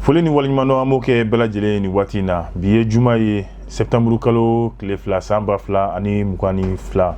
foli ni waleɲumandɔn an b'o kɛ bɛɛ lajɛlen ye nin waati in na bi ye juma ye sɛptanburu kalo tile fila san ba fila ani mugan ni fila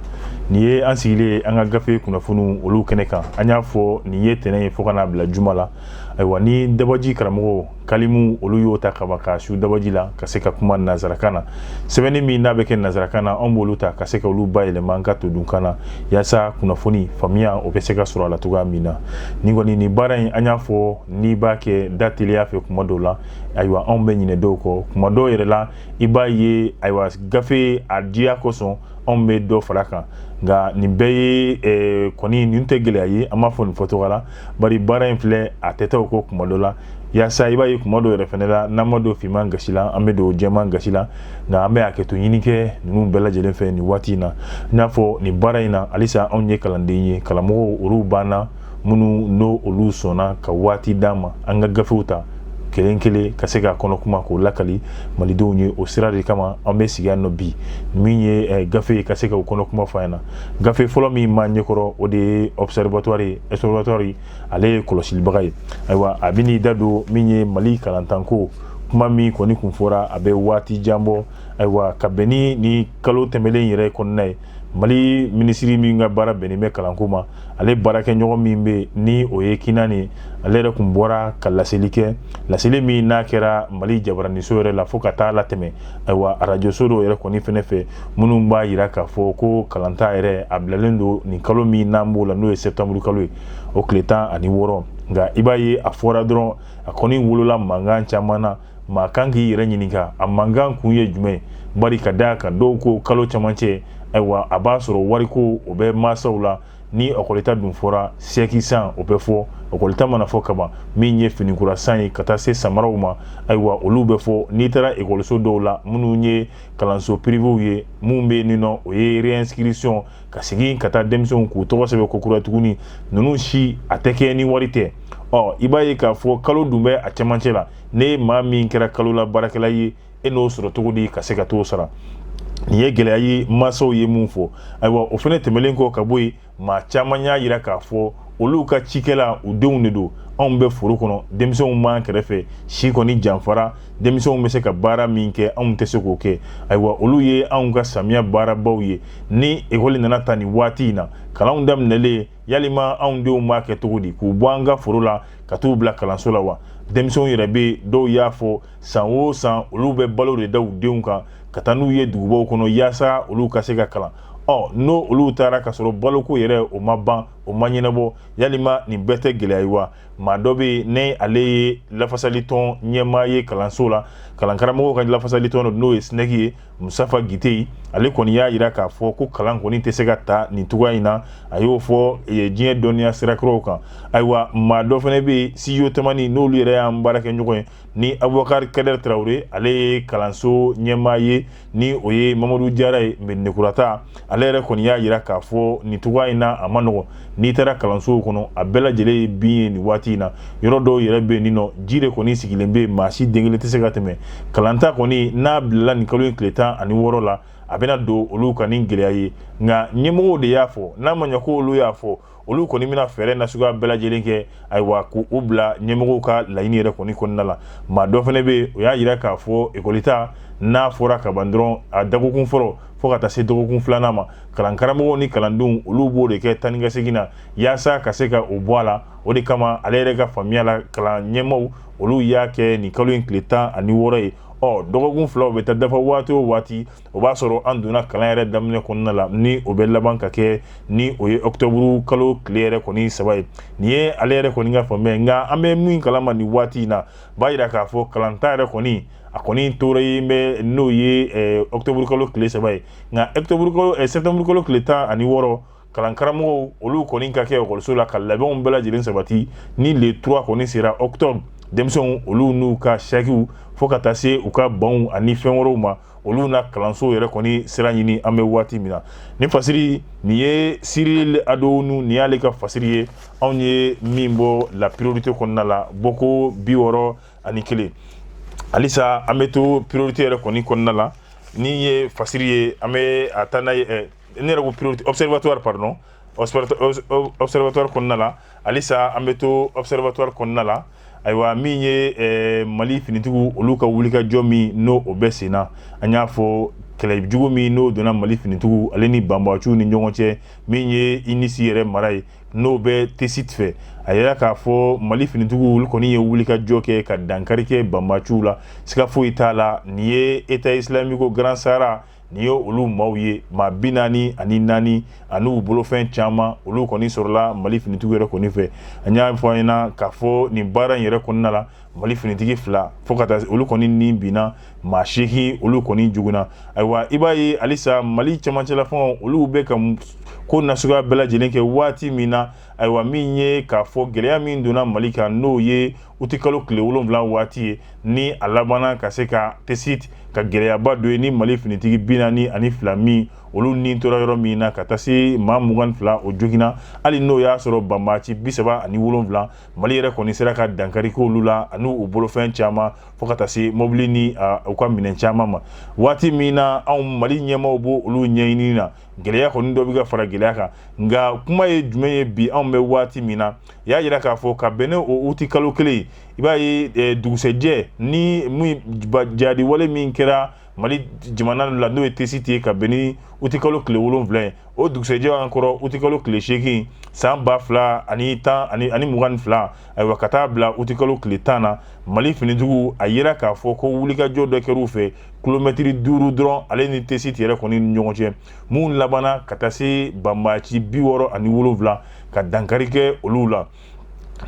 nin ye an sigilen ye an ka gafe kunnafoniw olu kɛnɛ kan an y'a fɔ nin ye tɛnɛn ye fo ka n'a bila juma la ayiwa ni dabaji karamɔgɔ kalimu olu y'o ta kaba ka su dabaji la ka se ka kuma nanzarakan na sɛbɛnni min n'a bɛ kɛ nanzarakan na an b'olu ta ka se ka olu bayɛlɛma an ka todunkan na yaasa kunnafoni faamuya o bɛ se ka sɔrɔ a la cogoya min na nin kɔni nin baara in an y'a fɔ n'i b'a kɛ da teliya fɛ kuma dɔw la ayiwa anw bɛ ɲinɛ dɔw kɔ kuma dɔw yɛrɛ la i b'a ye ayiwa gafe a diya kosɔn anw bɛ dɔ fara kan nka nin bɛɛ ye kɔni nin tɛ gɛlɛya ye an b'a fɔ nin fɔcogo la bari baara in filɛ a tɛ taa o kɔ kuma dɔ la yaasa i b'a ye kuma dɔ yɛrɛ fɛnɛ la n'an ma don finman gasi la an bɛ don jɛman gasi la nka an bɛ hakɛto ɲini kɛ ninnu bɛɛ lajɛlen fɛ nin waati in na i n'a fɔ nin baara in na halisa anw ye kalanden ye karamɔgɔw olu b'an na minnu n'olu sɔnna ka waati d'an ma an ka gafew ta kelen kelen ka se k'a kɔnɔ kuma k'o lakali malidenw ye o sira de kama an bɛ sigi yan nɔ bi min ye eh, gafe ye ka se ka o kɔnɔ kuma fɔ an ɲɛna gafe fɔlɔ min b'an ɲɛkɔrɔ o de ye observatoire ye observatoire ye ale ye kɔlɔsilibaga ye ayiwa a bɛ n'i da don min ye mali kalantanko kuma min kɔni kun fɔra a bɛ waati jan bɔ ayiwa ka bɛn ni nin kalo tɛmɛlen yɛrɛ kɔnɔna ye mali minisiri min ka baara bɛnnen bɛ kalanko ma ale baarakɛɲɔgɔn min bɛ ni o ye kinane ale yɛrɛ kun bɔra ka laseli kɛ laseli min n'a kɛra mali jabaraniso yɛrɛ la fo ka taa latɛmɛ ayiwa arajoso dɔw yɛrɛ kɔni fɛnɛ fɛ minnu b'a yira k'a fɔ ko kalanta yɛrɛ a bilalen don nin kalo min n'an b'o la n'o ye sɛptanburu kalo ye o tile tan ani wɔɔrɔ nka i b'a ye a fɔra dɔrɔn a kɔni wolola mankan caman na maa kan k'i yɛrɛ ɲininka a mankan kun ye jumɛn bari ka da kan dɔw ko kalo camancɛ ayiwa a b'a sɔrɔ wariko o bɛ masaw la ni ɔkɔlita dun fɔra sɛki san o bɛ fɔ ɔkɔlita mana fɔ kaban min ye finikura san ye ka taa se samaraw ma ayiwa olu bɛ fɔ n'i taara ekɔliso dɔw la minnu ye kalanso pirivew ye min bɛ nin nɔ o ye réinscription ka segin ka taa denmisɛnw k'u tɔgɔ sɛbɛn ko kura tuguni ninnu si a tɛ kɛ ni wari tɛ ɔ i b'a ye k'a fɔ kalo dun bɛ a cɛmancɛ la n'e maa min kɛra kalo la baarakɛla ye e n'o sɔrɔ cogo di ka se ka t'o sara nin ye gɛlɛya ye masaw ye mun fɔ ayiwa o fɛnɛ tɛmɛlen kɔ ka bɔ yen maa caman y'a yira k'a fɔ olu ka cikɛla u denw de don anw bɛ foro kɔnɔ denmisɛnw b'an kɛrɛfɛ si kɔni janfara denmisɛnw bɛ se ka baara min kɛ anw tɛ se k'o kɛ ayiwa olu ye anw ka samiya baarabaw ye ni ekɔli nana ta nin waati in na kalanw daminɛlen yalima anw dun b'a kɛ cogo di k'u bɔ an ka foro la ka t'u bila kalanso la wa denmisɛnw yɛrɛ bɛ dɔw y'a fɔ san o san olu bɛ balo de da u denw kan ka taa n'u ye dugubaw kɔnɔ yaasa olu ka se ka kalan ɔ n'o olu taara ka sɔrɔ baloko yɛrɛ o ma ban o ma ɲɛnabɔ yalima nin bɛɛ tɛ gɛlɛya ye wa maa dɔ bɛ yen ni ale ye lafasalitɔn ɲɛmaa ye kalanso la kalankaramɔgɔw ka lafasalitɔn dɔ n'o ye sinɛki ye musafa gite ye ale kɔni y'a yira k'a fɔ ko kalan kɔni tɛ se ka ta nin cogoya in na a y'o fɔ eh, diɲɛ dɔnniya sira kuraw kan ayiwa maa dɔ fana bɛ yen studio tamani n'olu yɛrɛ y'an baarakɛɲɔgɔn ye ni abubakari kadɛri tarawele ale ye kalanso ɲɛmaa ye ni o ye mamadu jara ye mɛdinakura ta ale yɛrɛ kɔni y'a yira k'a fɔ nin cogoya in na a ma nɔgɔn n'i taara kalansow kɔnɔ a bɛɛ lajɛlen ye bin ye nin waati in na yɔrɔ dɔw yɛrɛ bɛ yen nin nɔ ji de kɔni sigilen bɛ yen maa si den kelen tɛ se ka tɛmɛ kalanta kɔni n'a bilala nin kalo in tile tan ani wɔɔrɔ la a bɛna don olu kan ni gɛlɛya ye nka ɲɛmɔgɔw de y'a fɔ n'a ma ɲɛ ko olu y'a fɔ olu kɔni bɛna fɛɛrɛ nasuguya bɛɛ lajɛlen kɛ ayiwa k'u bila ɲɛmɔgɔw ka laɲini yɛrɛ kɔni kɔnɔna la maa dɔ fana bɛ yen o y'a yira k'a fɔ ekɔlita n'a fɔra ka ban dɔrɔn a dɔgɔkun fɔlɔ fo ka taa se dɔgɔkun filanan ma kalankaramɔgɔw ni kalandenw olu b'o de kɛ taa ni ka segin na yaasa ka se ka o bɔ a la o de kama ale yɛrɛ ka faamuya la kalan ɲɛmaaw olu y'a kɛ nin kalo in tile tan ani wɔɔrɔ ye ɔ dɔgɔkun fila o bɛ taa dafa waati o waati o b'a sɔrɔ an donna kalan yɛrɛ daminɛ kɔnɔna la ni o bɛ laban ka kɛ ni o ye octobre kalo tile yɛrɛ kɔni saba ye nin ye ale yɛrɛ kɔni ka faamuya ye nka an bɛ min kalama nin waati in na b'a yira k'a fɔ kalanta yɛrɛ kɔni a kɔni tora ye bɛ n'o ye octobre kalo tile saba ye nka octobre kalo eh, septembre kalo tile tan ani wɔɔrɔ kalankaramɔgɔw olu kɔni ka kɛ ekɔliso la ka labɛnw bɛɛ lajɛlen sabati ni le 3 kɔni sera octobre denmisɛnw olu n'u ka sakiw fo ka taa se u ka banw ani fɛn wɛrɛw ma olu na kalanso yɛrɛ kɔni sira ɲini an bɛ waati min na ni fasiri nin ye siril adownu nin y'ale ka fasiri ye anw ye min bɔ la priorité kɔnɔna la bɔko bi wɔɔrɔ ani kelen halisa an bɛ to priorité yɛrɛ kɔni kɔnɔna la nin ye fasiri ye an bɛ taa n'a ye ne yɛrɛ ko priorité observatoire pardon observatoire kɔnɔna la halisa an bɛ to observatoire kɔnɔna la ayiwa min ye eh, mali finitigiw olu ka wulikajɔ min n'o o bɛ sen na an y'a fɔ kɛlɛ jugu min n'o donna mali finitigiw ale ni banbaciw ni ɲɔgɔn cɛ min ye inisi yɛrɛ mara ye n'o bɛ tesit fɛ a yira k'a fɔ mali finitigiw olu kɔni ye wulikajɔ kɛ ka dankari kɛ banbaciw la siga foyi t'a la nin ye état islamique au grand sahara Nin ye olu maaw ye maa bi naani ani naani ani u bolofɛn caman olu kɔni sɔrɔla mali finitigiw yɛrɛ kɔni fɛ a y'a fɔ an ɲɛna k'a fɔ nin baara in yɛrɛ kɔnɔna la mali finitigi fila fo ka taa olu kɔni ni binna maa seegin olu kɔni joginna ayiwa i b'a ye halisa mali camancɛlafanga olu bɛ ka ko nasuguya bɛɛ lajɛlen kɛ waati min na ayiwa min ye k'a fɔ gɛlɛya min donna mali kan n'o ye uti kalo tile wolonwula waati ye ni a labanna ka se ka tesiti ka gɛlɛyaba dɔ ye ni mali finitigi bi naani ani fila min olu ni tora yɔrɔ min na ka taa se maa mugan fila o joginna hali n'o y'a sɔrɔ banbaci bisaba ani wolonwula mali yɛrɛ kɔni sera ka dankari kɛ olu la ani u bolofɛn caman fo ka taa se mɔbili ni u ka minɛn caman ma waati min na anw mali ɲɛmaaw b' olu ɲɛɲini na gɛlɛya kɔni dɔ bɛ ka fara gɛlɛya kan nka kuma ye jumɛn ye bi anw bɛ waati min na i y'a jira k'a fɔ ka bɛn ni o uti kalo kelen i b'a ye eh, dugusɛjɛ nin jadi wale min kɛra mali jamana la n'o ye tesiti ye ka bɛn ni uti kalo tile wolonwula ye o dugusɛjɛ an kɔrɔ uti kalo tile seegin san ba fila ani ani mugan ni fila ayiwa ka taa bila uti kalo tile tan na mali finitigiw a yira k'a fɔ ko wulikajɔ dɔ kɛr'u fɛ kilomɛtiri duuru dɔrɔn ale ni tesiti yɛrɛ kɔni ni ɲɔgɔn cɛ min labanna ka taa se banbaci bi wɔɔrɔ ani wolonwula ka dankari kɛ olu la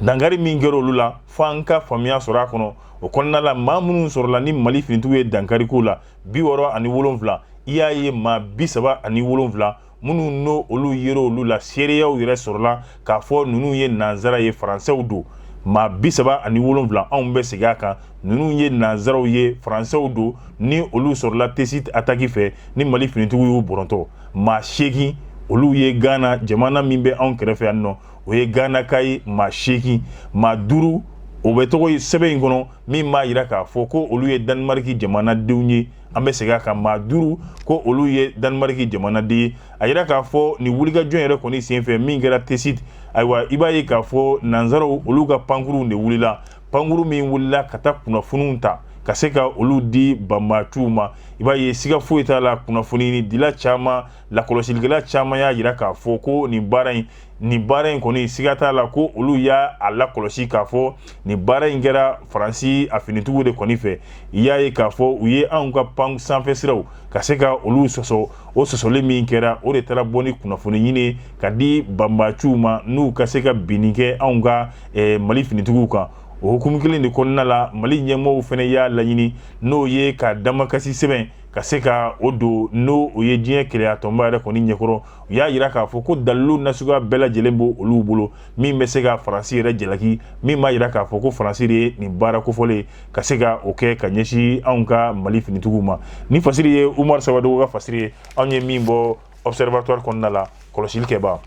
dankari min kɛra olu la fo an ka faamuya sɔrɔ a kɔnɔ o kɔnɔna la maa minnu sɔrɔla ni mali finitigiw ye dankari k'u la bi wɔɔrɔ ani wolonwula i y'a ye maa bi saba ani wolonwula minnu n'o olu yera olu la seereyaw yɛrɛ sɔrɔla k'a fɔ ninnu ye nanzara ye faransɛw don maa bi saba ani wolonwula anw bɛ segin a kan ninnu ye nanzaraw ye faransɛw don ni olu sɔrɔla tesiti ataki fɛ ni mali finitigiw y'u bɔrɔntɔ maa seegin olu ye ghana jamana min bɛ anw kɛrɛfɛ yan nɔ o ye ghanaka ye maa seegin maa duuru o bɛɛ tɔgɔ ye sɛbɛn in kɔnɔ min b'a jira k'a fɔ ko olu ye danimariki jamanadenw ye an bɛ segin a kan maa duuru ko olu ye danimariki jamanaden ye a yira k'a fɔ nin wulikajɔ yɛrɛ kɔni senfɛ min kɛra tesiti ayiwa i b'a ye k'a fɔ nanzaraw olu ka pankurunw de wulila pankuru min wulila ka taa kunnafoniw ta ka se ka olu di banbaciw ma i b'a ye siga foyi t'a la kunnafonidila caman lakɔlɔsilikɛla caman y'a jira k'a fɔ ko nin baara in nin baara in kɔni siga t'a la ko olu y'a lakɔlɔsi k'a fɔ nin baara in kɛra faransi a finitigiw de kɔni fɛ i y'a ye k'a fɔ u ye anw ka pan sanfɛ siraw ka se ka olu sɔsɔ o sɔsɔli min kɛra o de taara bɔ ni kunnafoni ɲini ka di banbaciw ma n'u ka se ka binni kɛ anw ka eh, mali finitigiw kan o hukumu kelen de kɔnɔna la mali ɲɛmɔgɔw fana y'a laɲini n'o ye ka damakasi sɛbɛn ka se ka o don n'o o ye diɲɛ kelenyatɔnba yɛrɛ kɔni ɲɛkɔrɔ u y'a jira k'a fɔ ko dalilu nasuguya bɛɛ lajɛlen b'o olu bolo min bɛ se ka faransi yɛrɛ jalaki min b'a jira k'a fɔ ko faransi de ye nin baara kofɔlen ka se ka o kɛ ka ɲɛsin anw ka mali finitigiw ma nin fasiri ye umaru sawadogo ka fasiri ye anw ye min bɔ observatoire kɔnɔna la kɔlɔsili kɛbaa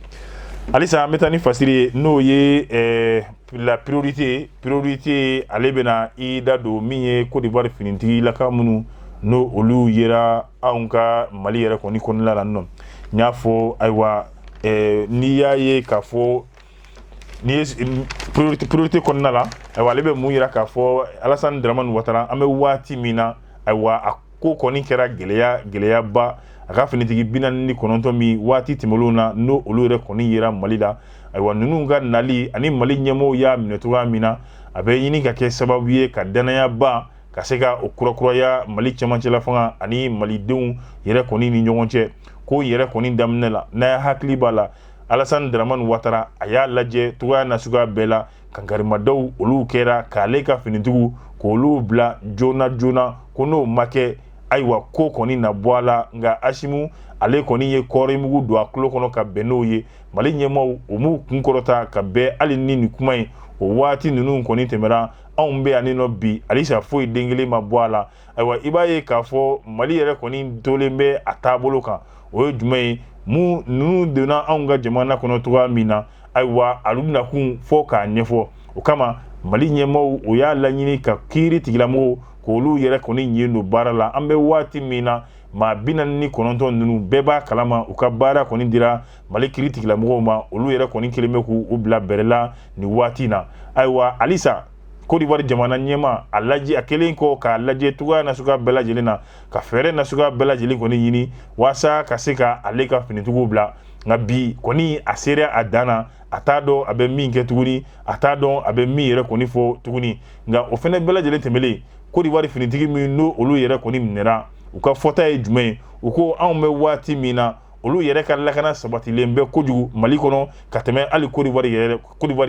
halisa an bɛ taa ni fasiri ye n'o ye eh, la priorité priorité ale bɛna i da don min ye Côte d'Ivoire finitigilaka minnu n'o olu yera anw ka mali yɛrɛ kɔni kɔnɔna la nɔ n y'a fɔ ayiwa eh, n'i y'a ye k'a fɔ ni ye priorité kɔnɔna la ayiwa ale bɛ mun yira k'a fɔ alasani daramani watara an bɛ waati min na ayiwa a ko kɔni kɛra gɛlɛya gɛlɛyaba a ka finitigi bi naani ni kɔnɔntɔn min waati tɛmɛlenw na n'o olu yɛrɛ kɔni yera mali la ayiwa ninnu ka nali ani mali ɲɛmɔgɔw y'a minɛ cogoya min na a bɛ ɲini ka kɛ sababu ye ka dannayaba ka se ka o kurakuraya mali cɛmancɛla fanga ani malidenw yɛrɛ kɔni ni ɲɔgɔn cɛ ko yɛrɛ kɔni daminɛ la n'a ya hakili b'a la alasani daramani watara a y'a lajɛ cogoya nasuguya bɛɛ la kankarimadaw olu kɛra k'ale ka finitigiw k'olu bila joona joona ko n'o ma kɛ ayiwa ko kɔni na bɔ a la nka asimu ale kɔni ye kɔɔri mugu don a tulo kɔnɔ ka bɛn n'o ye mali ɲɛmaaw o m'u kunkɔrɔta ka bɛn hali ni nin kuma ye o waati ninnu kɔni tɛmɛra anw bɛ yan nɔ bi halisa foyi den kelen ma bɔ a la ayiwa i b'a ye k'a fɔ mali yɛrɛ kɔni tolen bɛ a taabolo kan o ye jumɛn ye minnu ninnu donna anw ka jamana kɔnɔ cogoya min na ayiwa olu nakun fɔ k'a ɲɛfɔ o kama mali ɲɛmɔgɔw o y'a laɲini ka kiiri tigilamɔgɔw k'olu yɛrɛ kɔni ɲin don baara la an bɛ waati min na maa bi naani ni kɔnɔntɔn ninnu bɛɛ b'a kalama u ka baara kɔni dira mali kiiri tigilamɔgɔw ma olu yɛrɛ kɔni kelen bɛ k'u u bila bɛrɛ la nin waati na ayiwa halisa kodiwari jamana ɲɛma a lajɛ a kelen kɔ k'a lajɛ cogoya nasuguya bɛɛ lajɛlen na ka fɛɛrɛ nasuguya bɛɛ lajɛlen kɔni ɲini walasa ka se ka ale ka finitigiw bila nka bi kɔni a sera a dan na a t'a dɔn a bɛ min kɛ tuguni a t'a dɔn a bɛ min yɛrɛ kɔni fɔ tuguni nka o fɛnɛ bɛɛ lajɛlen tɛmɛlen kodiwari finitigi min n'o olu yɛrɛ kɔni minɛra u ka fɔta ye jumɛn ye u ko anw bɛ waati min na olu yɛrɛ ka lakana sabatilen bɛ kojugu mali kɔnɔ ka tɛmɛ hali kodiwari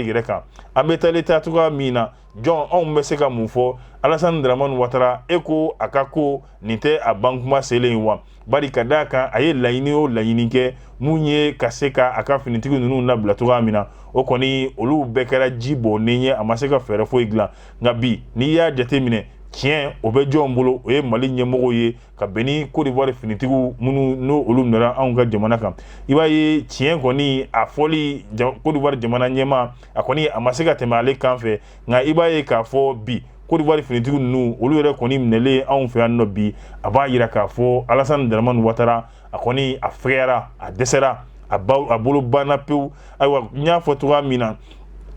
yɛrɛ kan an bɛ taali taa cogoya min na jɔn anw bɛ se ka mun fɔ alasani daramani watara e ko a ka ko nin tɛ a ban kuma selen ye wa bari ka d'a kan a ye laɲini o laɲini kɛ mun ye ka se ka a ka finitigi ninnu labila cogoya min na o kɔni olu bɛɛ kɛra ji bɔnnen ye a ma se ka fɛɛrɛ foyi dilan nka bi n'i y'a jateminɛ tiɲɛ o bɛ jɔn bolo o ye mali ɲɛmɔgɔw ye ka bɛn ni kodiwari finitigiw minnu n'o olu minɛra anw ka jamana kan i b'a ye tiɲɛ kɔni a fɔli kodiwari jamana ɲɛma a kɔni a ma se ka tɛmɛ ale kan fɛ nka i b'a ye k'a fɔ bi kodiwari finitigiw ninnu olu yɛrɛ kɔni minɛlen anw fɛ yan nɔ bi a b'a yira k'a fɔ alasani daramani watara a kɔni a fɛgɛyara a dɛsɛra a bolo banna pewu ayiwa n y'a fɔ cogoya min na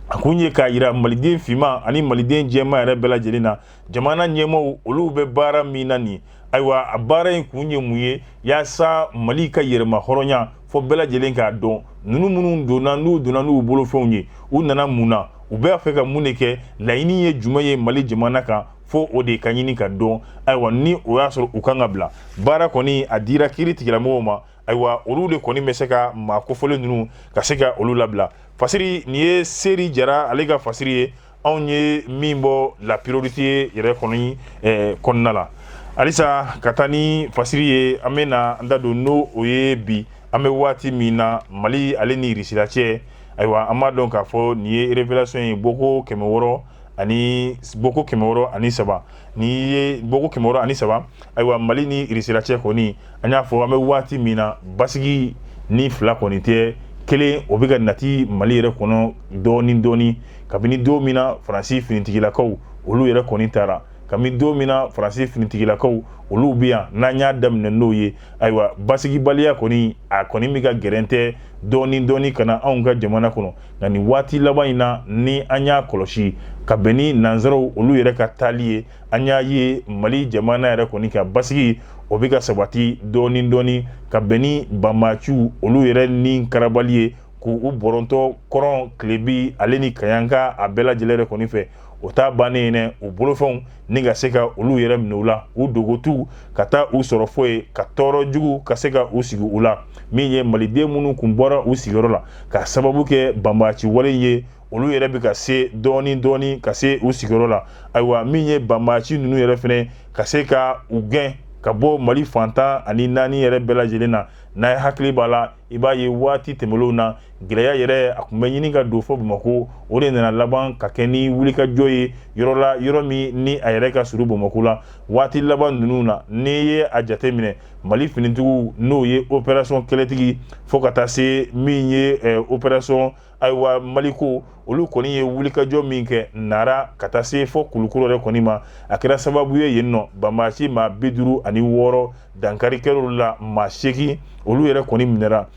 a kun ye k'a yira maliden finman ani maliden jɛman yɛrɛ bɛɛ lajɛlen na jamana ɲɛmaaw olu bɛ baara min na nin ayiwa a baara in kun ye mun ye yaasa mali ka yɛrɛma hɔrɔnya fo bɛɛ lajɛlen k'a dɔn ninnu minnu donna n'u donna n'u bolofɛnw ye u nana mun na u b'a fɛ ka mun de kɛ laɲini ye jumɛn ye mali jamana kan fo o de ka ɲini ka dɔn ayiwa ni o y'a sɔrɔ u kan ka bila baara kɔni a dira kiiri tigilamɔgɔw ma ayiwa olu de kɔni bɛ se ka maa kofɔlen ninnu ka se ka olu labila fasiri nin ye seri jara ale ka fasiri ye anw ye min bɔ la priorité yɛrɛ kɔni eh, kɔnɔna la halisa ka taa ni fasiri ye an bɛ na an da don n'o o ye bi an bɛ waati min na mali ale ni irisila cɛ ayiwa an b'a dɔn k'a fɔ nin ye révélation ye bɔko kɛmɛ wɔɔrɔ ani bɔko kɛmɛ wɔɔrɔ ani saba nin ye bɔko kɛmɛ wɔɔrɔ ani saba ayiwa mali ni irisila cɛ kɔni an y'a fɔ an bɛ waati min na basigi ni fila kɔni tɛ kelen o bɛ ka nati mali yɛrɛ kɔnɔ dɔɔni dɔɔni kabini don min na faransi finitigilakaw olu yɛrɛ kɔni taara kabini don min na faransi finitigilakaw olu bɛ yan n'an y'a daminɛ n'o ye ayiwa basigibaliya kɔni a kɔni bɛ ka gɛrɛntɛ dɔɔni dɔɔni ka na anw ka jamana kɔnɔ nka nin waati laban in na ni an y'a kɔlɔsi ka bɛn ni nanzaraw olu yɛrɛ ka taali ye an y'a ye mali jamana yɛrɛ kɔni ka basigi o bɛ ka sabati dɔɔni dɔɔni ka bɛn ni banbaaciw olu yɛrɛ ni karabali ye k'u bɔrɔntɔ kɔrɔn kilebi ale ni kaɲaka a bɛɛ lajɛlen yɛrɛ kɔni fɛ o t'a bannen ye u bolofɛnw ni ka se ka olu yɛrɛ minɛ u la u dogotu ka taa u sɔrɔ fo yen ka tɔɔrɔ jugu ka se ka u sigi u la min ye maliden minnu kun bɔra u sigiyɔrɔ la k'a sababu kɛ banbaaci wale ye olu yɛrɛ bɛ ka se dɔɔni dɔɔni ka se u sigiyɔrɔ la ayiwa min ye banbaaci ninnu yɛrɛ fɛnɛ ka se ka u gɛn ka bɔ mali fan tan ani naani yɛrɛ bɛɛ lajɛlen na n'a ye hakili b'a la i b'a ye waati tɛmɛlenw na gɛlɛya yɛrɛ a kun bɛ ɲini ka don fo bamakɔ o de nana laban ka kɛ ni wulikajɔ ye yɔrɔ la yɔrɔ min ni a yɛrɛ ka surun bamakɔ la waati laban ninnu na n'i ye a jate minɛ mali finitigiw n'o ye opération kɛlɛtigi fo ka taa se min ye opération ayiwa maliko olu kɔni ye wulikajɔ min kɛ nara ka taa se fo kulukɔrɔ yɛrɛ kɔni ma a kɛra sababu ye yen nɔ banbaaci maa bi duuru ani wɔɔrɔ dankari kɛr'olu la maa seegin olu yɛrɛ kɔni minɛra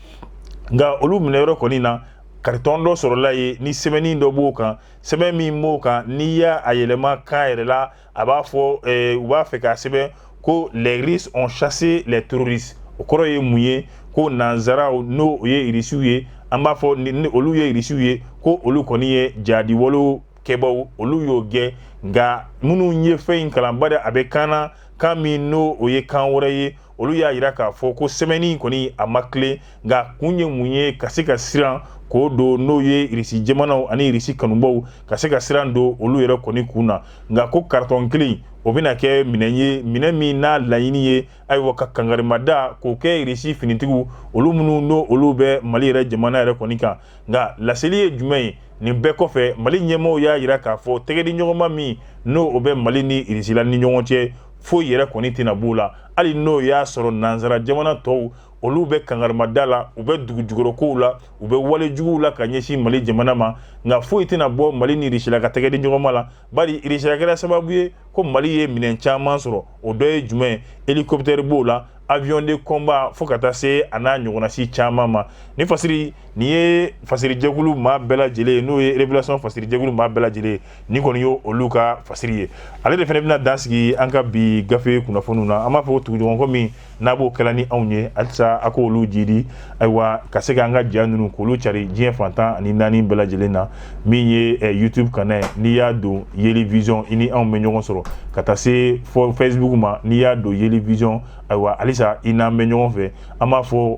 nka olu minɛyɔrɔ kɔni na karitɔn dɔ sɔrɔla yen ni sɛbɛnni dɔ b'o kan sɛbɛn min b'o kan n'i y'a yɛlɛma kan yɛrɛ la a b'a fɔ eh, u b'a fɛ k'a sɛbɛn ko les Russes ont chassé les terroristes o kɔrɔ ye mun ye ko nanzaraw n'o o ye irisiw ye an b'a fɔ ni olu ye irisiw ye ko olu kɔni ye jaadi walew kɛbaaw olu y'o gɛn nka minnu ye fɛn in kalan bari a bɛ kan na kan min n'o o ye kan wɛrɛ ye olu y'a jira k'a fɔ ko sɛbɛnni kɔni a ma tilen nka kun ye mun ye ka se ka siran k'o don n'o ye irisi jamanaw ani irisi kanubaw ka se ka siran don olu yɛrɛ kɔni kun na nka ko karitɔn kelen o bɛna kɛ minɛn ye minɛn min n'a laɲini ye ayiwa ka kangarimada k'o kɛ irisi finitigiw olu minnu n'o olu bɛ mali yɛrɛ jamana yɛrɛ kɔni kan nka laseli ye jumɛn ye nin bɛɛ kɔfɛ mali ɲɛmɔgɔ y'a jira k'a fɔ tɛgɛdiɲɔgɔnma min n'o o bɛ mali ni irisila ni ɲɔgɔn cɛ foyi yɛrɛ kɔni tɛna b'o la hali n'o y'a sɔrɔ nansara jamana tɔw olu bɛ kangarimada la u bɛ dugujukɔrɔkow la u bɛ walejuguw la ka ɲɛsin mali jamana ma nka foyi tɛna bɔ mali ni irisila ka tɛgɛdiɲɔgɔnma la bari irisila kɛra sababu ye ko mali ye minɛn caman sɔrɔ o dɔ ye jumɛn hélicoptère b'o la avion de combat fo ka taa se a n'a ɲɔgɔnnasi caman ma ni fasiri nin ye fasirijɛkulu maa bɛɛ lajɛlen ye n'o ye révélation fasirijɛkulu maa bɛɛ lajɛlen ye nin kɔni y'olu ka fasiri ye ale de fana bɛna dan sigi an ka bi gafe kunnafoniw na an b'a fɔ tuguɲɔgɔnkɔ min n'a b'o kɛla ni anw ye halisa a k'olu jidi ayiwa ka se k'an ka ja ninnu k'olu cari diɲɛ fan tan ani naani bɛɛ lajɛlen na min ye eh, youtube kanna ye n'i y'a don yeli vision i ni anw bɛ ɲɔgɔn sɔrɔ ka taa se fo facebook ma n'i y'a don yeli vision ayiwa halisa i n'an bɛ ɲɔgɔn fɛ an b'a fɔ